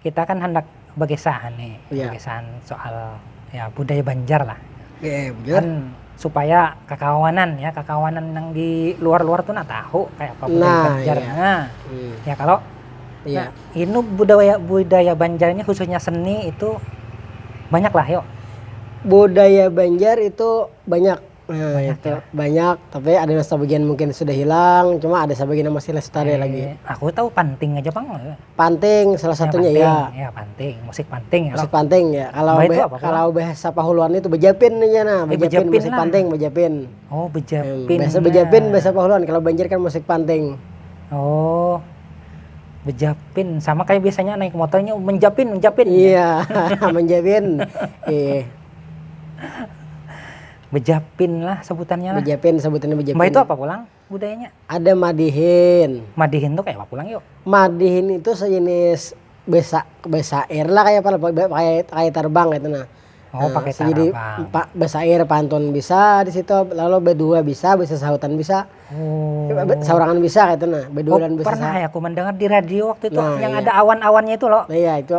kita kan handak bakisah nih yeah. bakisahan soal ya budaya Banjar lah yeah, iya, kan supaya kekawanan ya kekawanan yang di luar-luar tuh nah tahu kayak apa budaya nah, Banjar yeah. nah hmm. ya kalau yeah. nah, ini budaya budaya Banjar ini khususnya seni itu banyak lah yuk budaya Banjar itu banyak Nah Banyak itu ya? banyak, tapi ada nang sabagian mungkin sudah hilang, cuma ada sabagian nang masih lestari lagi. Eh, aku tahu panting aja pang. Eh, Panting salah ya, satunya panting, ya. ya panting, musik panting ya. Musik panting ya. Kalau Mbak itu be- apa, Pulang? kalau bahasa Pahuluan itu bejapin aja nah, Eh, bejapin, bejapin musik lah. panting, bejapin. Oh, Hmm, bejapin. bahasa ya. bejapin bahasa Pahuluan, kalau Banjar kan musik panting. Oh. Bejapin sama kayak biasanya naik motornya menjapin, menjapin. Iya, menjapin. Iya. Bejapin lah sebutannya lah. Bejapin sebutannya bejapin. Mbah itu apa pulang budayanya? Ada madihin. Madihin tuh kayak apa pulang yuk? Madihin itu sejenis besa besa air lah kayak apa lah kayak kayak terbang gitu nah. Oh, nah, pakai tarabang. Jadi pak besa air pantun bisa di situ lalu berdua bisa bisa sahutan bisa. Oh. Saurangan bisa gitu nah. Berdua oh, dan bisa. Pernah ya aku mendengar di radio waktu itu nah, yang iya. ada awan-awannya itu loh. Nah, iya itu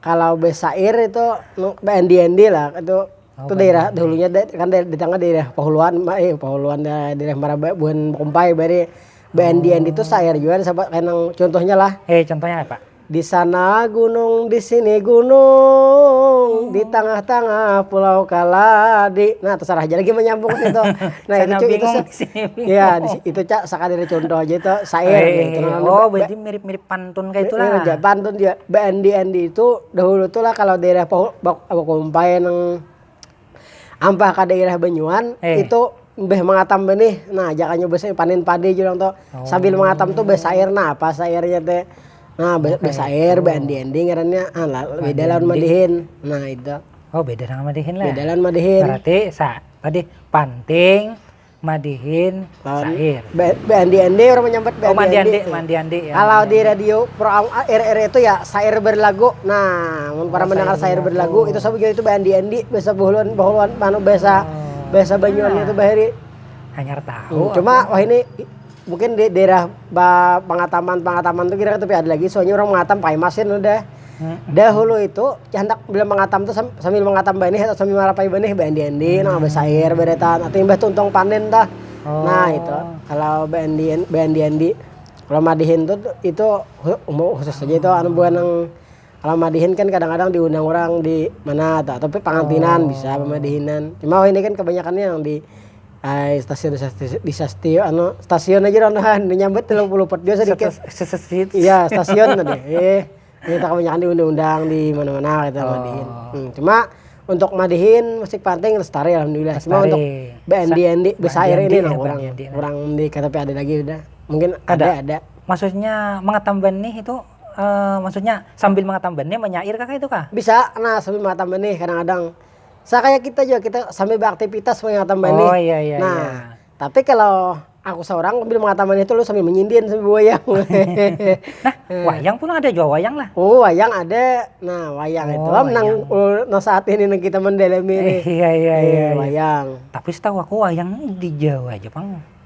Kalau besair itu bendi endi lah itu itu daerah dahulunya kan ditanga daerah pahuluan pahuluan daerah maraba buhan kumpai bahari bendi endi tu sair jua sabab kaya nang contohnya lah contohnya apa disana gunung disini gunung ditangah tangah pulau kaladi nah tasarah haja lagi manyambung itu nah itu cu itu ya itu ca sakadar contoh haja itu sair oh berarti mirip mirip pan. Pantun kaya itu lah. Iya, pantun jua. Beandi-andi itu, dahulu tu lah kalau daerah bakumpai nang ampah ka daerah banyuan, itu mbah mangatam benih. Nah, jakanya panen padi jar urang tu. Sambil mangatam tu basair, nah apa sairnya te. Nah, basair, beandi-andi ngarannya. Beda lawan madihin. Nah itu. Oh beda lawan madihin lah. Beda lawan madihin. Berarti sa, tadi panting. Madihin syair. Beandi-andi orang menyambat beandi-andi. Oh mandi-andi, mandi-andi ya. Kalau di radio pro RR itu ya syair berlagu. Nah, mun para mendengar syair berlagu itu sabu itu beandi-andi bahasa buhuluan bahuluan manu bahasa bahasa Banyuwannya itu bahari. Hanyar tahu. Cuma wah ini Mungkin di daerah ba pangataman-pangataman tu kira tapi ada lagi soalnya orang mangatam pakai masin udah. Dahulu itu handak bila mangatam tu sambil mangatam banih atau sambil marapai banih baendi-endi nang basair baeretan atau imbah tuntung panen tuh nah itu kalau baendi-baendi-endi kalau madihin tu itu khusus aja itu anu buah nang. Kalau madihin kan kadang-kadang diundang orang di mana atau tapi pangantinan oh. bisa pemadihinan. Cuma oh ini kan kebanyakannya yang di Ay, stasiun stasiun di stasiun anu stasiun aja orang tahan nyambut telung puluh pot biasa dikit iya stasiun tadi eh ini tak kebanyakan di undang-undang di mana-mana kita gitu, oh. madihin hmm, cuma untuk madihin musik panting lestari alhamdulillah lestari. cuma untuk BND ND besair ini nah, kurang kurang di KTP ada lagi udah mungkin ada ada, ada. maksudnya mengetamban nih itu maksudnya sambil mangatam benih manyair kah kaitu kah? Bisa nah sambil mangatam benih kadang kadang, sa kaya kita jua kita sambil beraktipitas mangatam benih oh iya iya nah iya. tapi kalo aku saurang sambil mangatam benih tu lalu sambil manyindin sambil wayang nah wayang pulang ada jua wayang lah oh wayang ada nah wayang oh, itu am nang nang saat ini nang kita mendalami ini iya iya iya wayang tapi setahu aku wayang di Jawa aja pang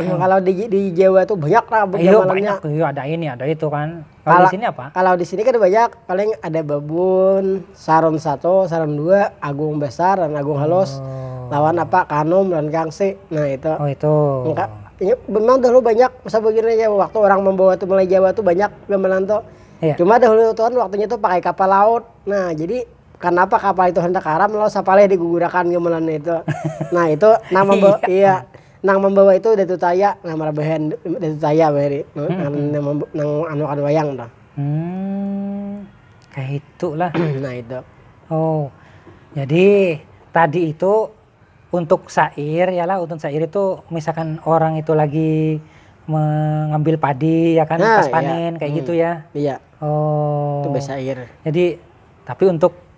kalau di di jawa tuh banyak lah Ayo, banyak tuh iya ada ini ada itu kan kalau di sini apa kalau di sini kan banyak paling ada babun sarum satu sarum dua agung besar dan agung halus oh. lawan apa kanum dan gangsi nah itu oh itu Enggak, ya, memang dahulu banyak masa begini ya waktu orang membawa tuh mulai jawa tuh banyak gamelan tuh iya. cuma dahulu tuh kan waktunya tuh pakai kapal laut nah jadi kenapa kapal itu hendak karam lalu sapalih digugurakan gamelan itu nah itu nama iya. iya Nang mambawa itu Datu Taya, nah marabahan Datu Taya bahari nang anuakan wayang tuh. Kaya itu lah. Nah itu. Oh, jadi tadi itu untuk sair ya lah, untuk sair itu misalkan orang itu lagi mengambil padi ya kan pas panen kaya gitu ya. Iya. Oh. Itu basair. Jadi tapi untuk.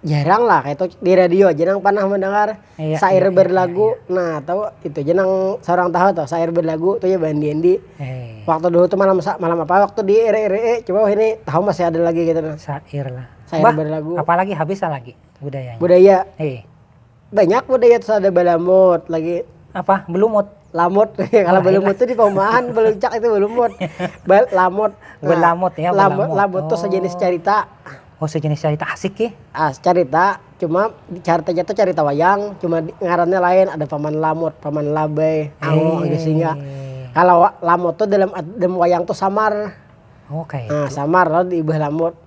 Jarang lah kaya itu di radio aja nang pernah mendengar sair berlagu nah tu itu ja nang seorang tahu tu sair berlagu tu ya bandi andi waktu dulu tu malam sa malam apa waktu di ire ire e coba wahini tahu masih ada lagi ketu nah sair lah sair berlagu apalagi habis lagi budayanya budaya. Banyak budaya tuh ada balamut lagi. Apa? Belumut. Lamut, kalau belumut tuh di paumahan beluncak itu belumut. Ba- lamut. Nah, Belamut ya, Lamut, belamut. lamut tuh sejenis Oh. carita. Oh sejenis carita asik ye. Ah, carita, cuma caritanya tuh carita wayang, cuma di- ngarannya lain, ada paman lamut, paman labai, ango, angge singa. Eh. Kalau wa- lamut tuh dalam ad- dalam wayang tuh samar. Oh kaya Nah, itu. samar lalu diubah lamut.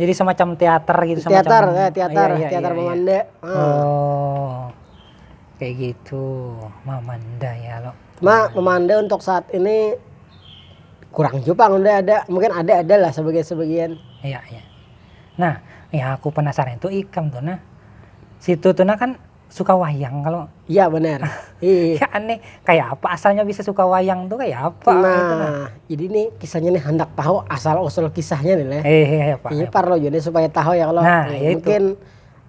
jadi semacam teater gitu semacam teater ya teater ya, ya, teater ya, memanda ya. Hmm. oh kayak gitu memanda ya lo ma memanda untuk saat ini kurang juga udah ada mungkin ada ada lah sebagian sebagian iya iya nah ya aku penasaran itu ikam tuh nah situ tuh nah kan suka wayang kalo iya benar iya aneh kayak apa asalnya bisa suka wayang tuh kayak apa nah, gitu nah. jadi nih kisahnya nih hendak tahu asal usul kisahnya nih leh eh, iya, apa, ini parlo jadi supaya tahu ya kalau nah, nah ya mungkin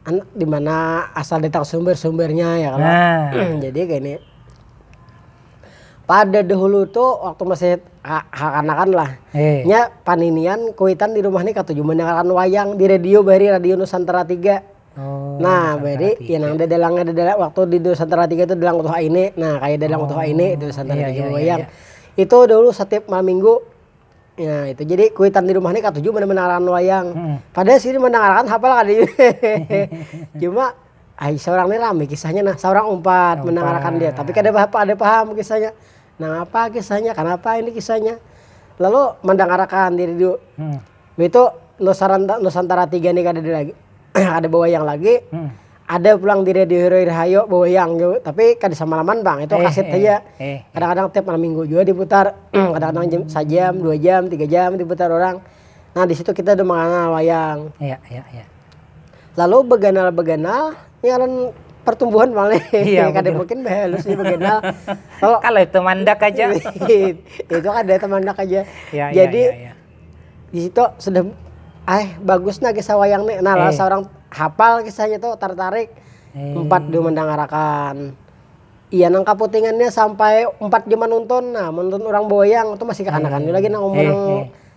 itu. di mana asal datang sumber sumbernya ya kalau nah. jadi kayak ini pada dahulu tuh waktu masih kanakan lah eh. nya paninian kuitan di rumah nih kata cuma dengarkan wayang di radio bari radio Nusantara tiga Oh, nah, jadi ya nang dadalangnya dadalang waktu di nusantara tiga tu dalang utuh aine, nah kaya dalang utuh aine itu nusantara tiga wayang. Itu dahulu satiap malam minggu, nah itu jadi kuitan di rumah ni katuju banar mandangaran wayang. Padahal sidin mandangarakan hapal kada jua, cuma ai saurang ni rami kisahnya nah, saurang umpat mandangarakan dia tapi kada kada paham kisahnya, nangapa kisahnya, kanapa ini kisahnya, lalu mandangarakan diri dulu. itu nusaranta nusantara tiga nih kadada lagi kada bawayang lagi ada pulang di radio hero rahayu bawayang jua tapi kada samalaman pang itu kaset haja kadang kadang tiap malam minggu jua diputar kadang kadang jam sajam dua jam tiga jam diputar orang nah disitu kita ada manganal wayang lalu baganal baganal ni ngaran partumbuhan pang leh kada mungkin bahalus ni baganal kalo itu tumandak haja itu kada tumandak haja jadi. Disitu sudah eh bagus nah kisah wayang nih nah lah saurang hapal kisahnya tuh tartarik umpat jua mandangarakan iya nang kaputingannya sampai umpat jua manuntun nah manuntun urang bawayang tuh masih kakanakan jua lagi nang umur nang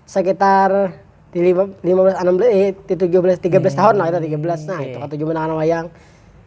sekitar lima belas anam belas tujuh belas tiga belas tahun lah itu tiga belas nah itu katuju mandangarakan wayang.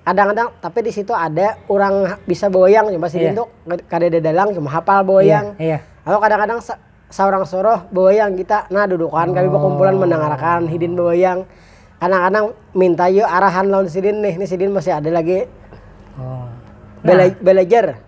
kadang-kadang tapi di situ ada orang ha- bisa bawayang cuma sidin Iya. tuh kad- kadada dalang cuma hafal bawayang Iya. atau kadang-kadang sa- saurang suruh bawayang kita nah dudukan kami Oh. bakumpulan mandangarakan hidin bawayang kadang-kadang minta yu arahan lawan sidin nih nih sidin masih ada lagi Oh. bela- belajar.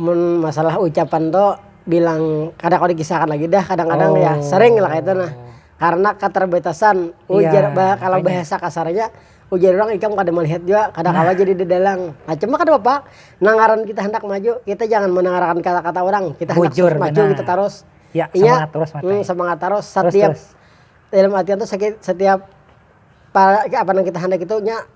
Mun masalah ucapan tu bilang kada kawa dikisahkan lagi dah kadang-kadang ya sering lah kaitu nah karna katerbatasan ujar kalau bahasa kasarnya ujar urang ikam kada melihat jua kada kawa jadi dadalang nah cuma kada papa nang ngaran kita handak maju kita jangan mendengarkan kata-kata urang kita handak maju kita tarus inya semangat tarus satiap dalam artian tu satiap apa nang kita handak itu nya.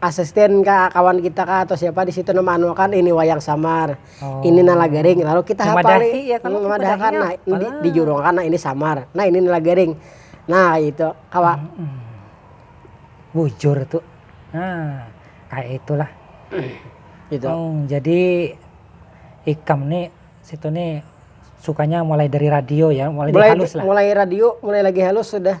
asisten kah kawan kita kah atau siapa di situ nama anu akan ini wayang samar oh. ini nala garing lalu kita hafali ya, kan, hmm, madahakan nah di, di jurung kan nah ini samar nah ini nala garing nah itu kawa hmm, hmm. bujur tuh nah kayak itulah gitu oh, jadi ikam nih situ nih sukanya mulai dari radio ya mulai, mulai halus lah mulai radio mulai lagi halus sudah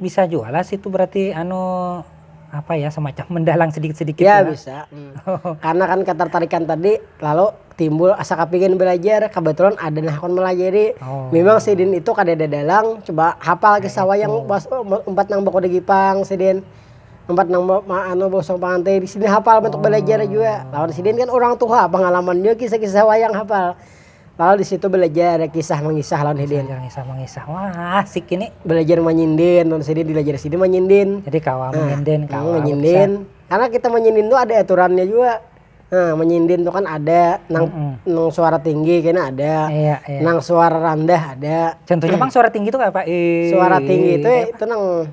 Bisa jua lah situ berarti anu apa ya semacam mendalang sedikit sedikit ya bisa karena kan ketertarikan tadi lalu timbul asa kepingin belajar kebetulan ada nah kon melajari oh. memang sidin itu kada ada dalang coba hafal nah, kisah wayang pas oh, empat nang bako digipang sidin empat nang anu bosong pangantin sidin hafal oh. untuk belajar juga lawan sidin kan orang tua pengalamannya kisah-kisah wayang hafal Lalu di situ belajar kisah mengisah lawan hidin. Belajar kisah mengisah, wah asik ini. Belajar manyinden lawan sidin, dilajar sidin manyinden. Jadi kawa menyinden, kawa menyinden. Karena kita menyinden tu ada aturannya jua. Nah menyinden tu kan ada nang nang suara tinggi kena ada, nang suara randah ada. Contohnya pang suara tinggi tu kaya apa? Suara tinggi tu itu nang.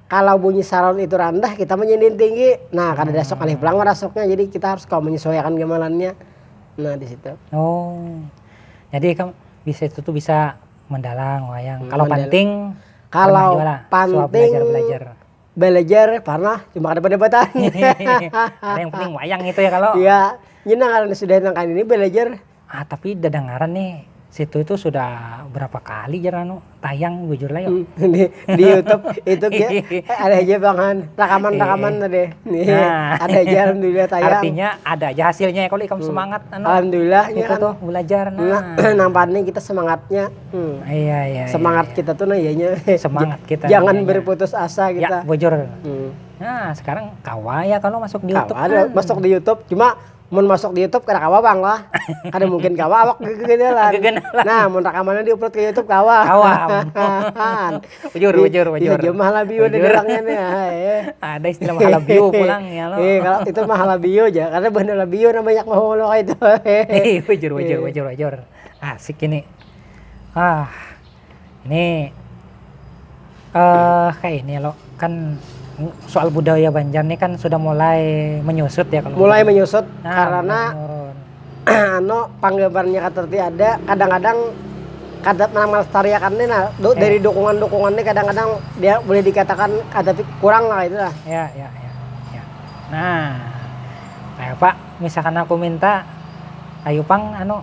Kalau bunyi saron itu randah, kita menyindin tinggi. Nah, kada ada sok alif belang marasuknya, jadi kita harus kawa menyesuaiakan gamalannya. Nah, di situ. Oh. Jadi ikam di situ tuh bisa mandalang wayang. Kalau Mandala. panting Kalau panting belajar. Belajar parnah cuma kada badebatan. Hehehe. Ada yang penting wayang itu ya kalau. Iya. Nyenang karena sudah nang kaini belajar. Ah tapi dadangaran nih situ itu sudah berapa kali jar anu tayang bujur lah yuk. di, di YouTube itu ya ada aja bangan rakaman rakaman iya. tadi nih nah. ada aja alhamdulillah tayang artinya ada aja hasilnya ya kalau ikam hmm. semangat anu alhamdulillah itu ya kan. tuh belajar nah, nah nampaknya kita semangatnya hmm. iya, iya iya semangat iya. kita tuh nah iyanya semangat kita jangan iya, berputus asa ya, kita ya, bujur hmm. nah sekarang kawa ya kalau masuk di YouTube kan. masuk di YouTube cuma mun masuk di YouTube kada kawa bang lah kada mungkin kawa awak gegenalan nah mun rakamannya di upload ke YouTube kawa bujur bujur bujur itu mah halabiu pulang itu mah halabiu ja karena buhan halabiu nang banyak bahulu kaitu bujur bujur bujur asik ini. Ini kaini lo kan soal budaya banjar ni kan sudah mulai menyusut ya kalo mulai menyusut karena anu panggabarnya katerti ada kadang-kadang kada nang melestariakan ni nah do dari dukungan-dukungan ni kadang-kadang dia boleh dikatakan ada ti kurang lah kaitu lah. Ya ya ya ya nah kayapa misalkan aku minta ayu pang anu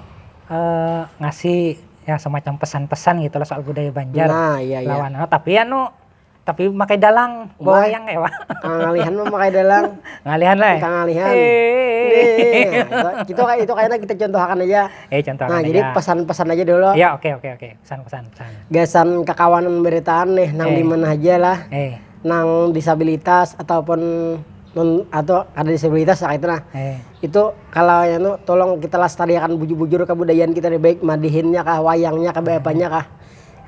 ngasih ya semacam pesan-pesan gitu lah soal budaya Banjar nah iya iya lawan oh, tapi anu tapi makai dalang bawa yang ewa ngalihan mah makai dalang ngalihan lah ya? ngalihan kita kayak itu kayaknya kita contohakan aja eh contoh nah jadi pesan-pesan aja dulu ya oke oke oke pesan-pesan gasan kekawanan beritaan nih nang eh. di mana aja lah eh. nang disabilitas ataupun non atau ada disabilitas lah itu nah eh. Itu kalo anu tolong kita lastariakan bujur bujur kabudayaan kita nih baik madihinnya kah wayangnya kah bapanya kah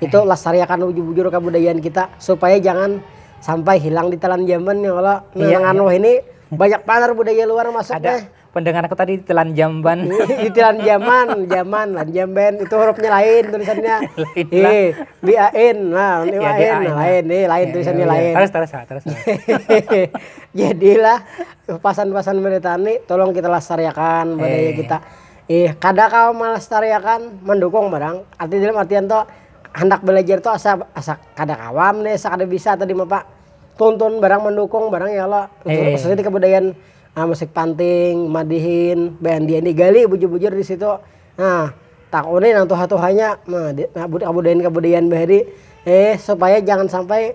itu lastariakan bujur bujur kabudayaan kita supaya jangan sampai hilang ditelan zaman ya kalo nah nang anu wahini banyak banar budaya luar masuk nih. Ada pendengar aku tadi ditelan jamban. ditelan jaman jaman lan jamban itu hurufnya lain tulisannya lain nah lain lain tulisannya lain. jadi lah. Pasan pasan beritaan ni tolong kita lastariakan budaya kita ih kada kawa malastariakan mandukung barang arti dalam artian tu handak balajar tu asa asa kada kawa am nih asa kada bisa atau dimapa tuntun barang mandukung barang ya kalo khususnya dikebudayaan musik panting madihin beandi andi gali bujur bujur disitu nah takuni nang tuha tuhanya nah budayaan budayaan bahari supaya jangan sampai.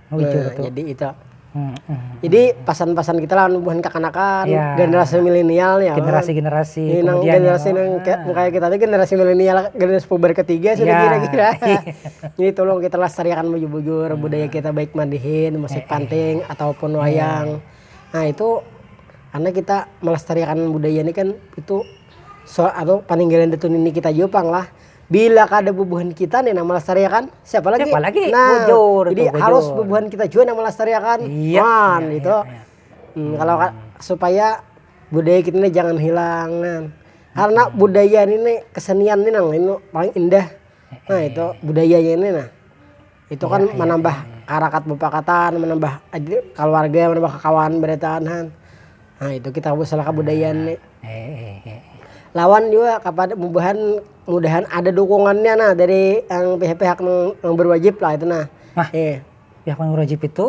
jadi itu jadi pasan pasan kita lah buhan kakanakan generasi milenial ya generasi generasi mungkin kita tuh generasi milenial generasi puber ketiga sih kira kira jadi tolong kita lestariakan bujur bujur budaya kita baik mandihin musik panting ataupun wayang nah itu karena kita melestariakan budaya ini kan itu soal itu paninggalan itu nini kita juga pang lah. bila kada bubuhan kita nih nang melestariakan siapa lagi siapa lagi nah bujur jadi bujur. harus bubuhan kita juga nang melestariakan iya, man iya, gitu iya, iya. Hmm, kalau supaya budaya kita ini jangan hilang nah. karena budaya ini kesenian ini nang ini paling indah nah itu budayanya ini nah itu kan manambah harakat bapakatan manambah kaluarga manambah kakawanan barataan han nah itu kita masalah kabudayaan ni lawan jua kapada bubuhan mudahan ada dukungannya nah dari yang pihak-pihak nang barwajib lah itu nah pihak nang barwajib itu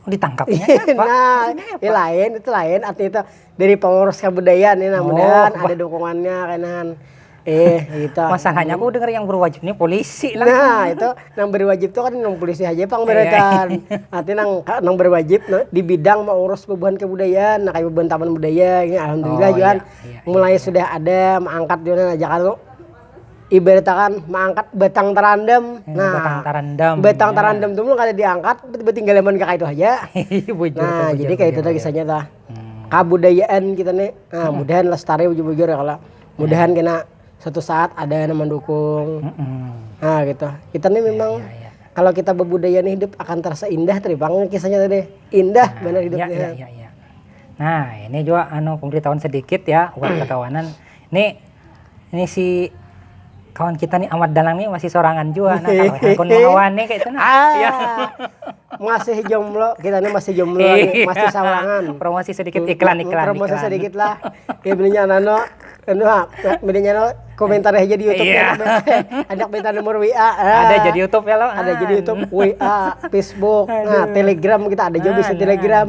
ditangkapnya kaya apa nah itu lain artinya tu. dari pengurus kabudayaan ini namanya ada dukungannya kainan eh itu masalahnya aku dengar yang berwajib ini polisi lah nah itu yang berwajib itu kan yang polisi aja pang mereka nanti nang nang berwajib di bidang mengurus bebuhan kebudayaan nah kayak bebuhan taman budaya ini alhamdulillah oh, Juan iya, iya, mulai iya. sudah ada mengangkat Juan aja kalau ibaratkan mengangkat batang terandam. Hmm, nah, batang terandam. Batang ya. terandam tuh belum kada diangkat, tiba-tiba tinggal lemon kakak itu aja. Iya, bujur, nah, bujur, jadi kayak bujur, itu tuh kisahnya tuh. kabudayaan kita nih mudahan lestari bujur bujur ya kalau mudahan kena suatu saat ada yang mendukung nah gitu kita nih memang kalau kita berbudaya nih hidup akan terasa indah tadi bang kisahnya tadi indah benar hidupnya ya, ya, ya, ya. nah ini juga anu pemberitahuan sedikit ya buat kekawanan nih Ini si kawan kita nih Amat Dalang nih masih sorangan jua nah kalu hakun lawan nih kaitu nah. masih jomblo kita nih masih jomblo lagi, masih sawangan. Promosi sedikit iklan iklan. Promosi sedikit lah. Ya bilinya nano anu ha, bilinya no komentar aja di YouTube ya. Ajak minta nomor WA. Ada jadi YouTube ya lo. Ada jadi YouTube, WA, Facebook, nah Telegram kita ada juga bisa Telegram.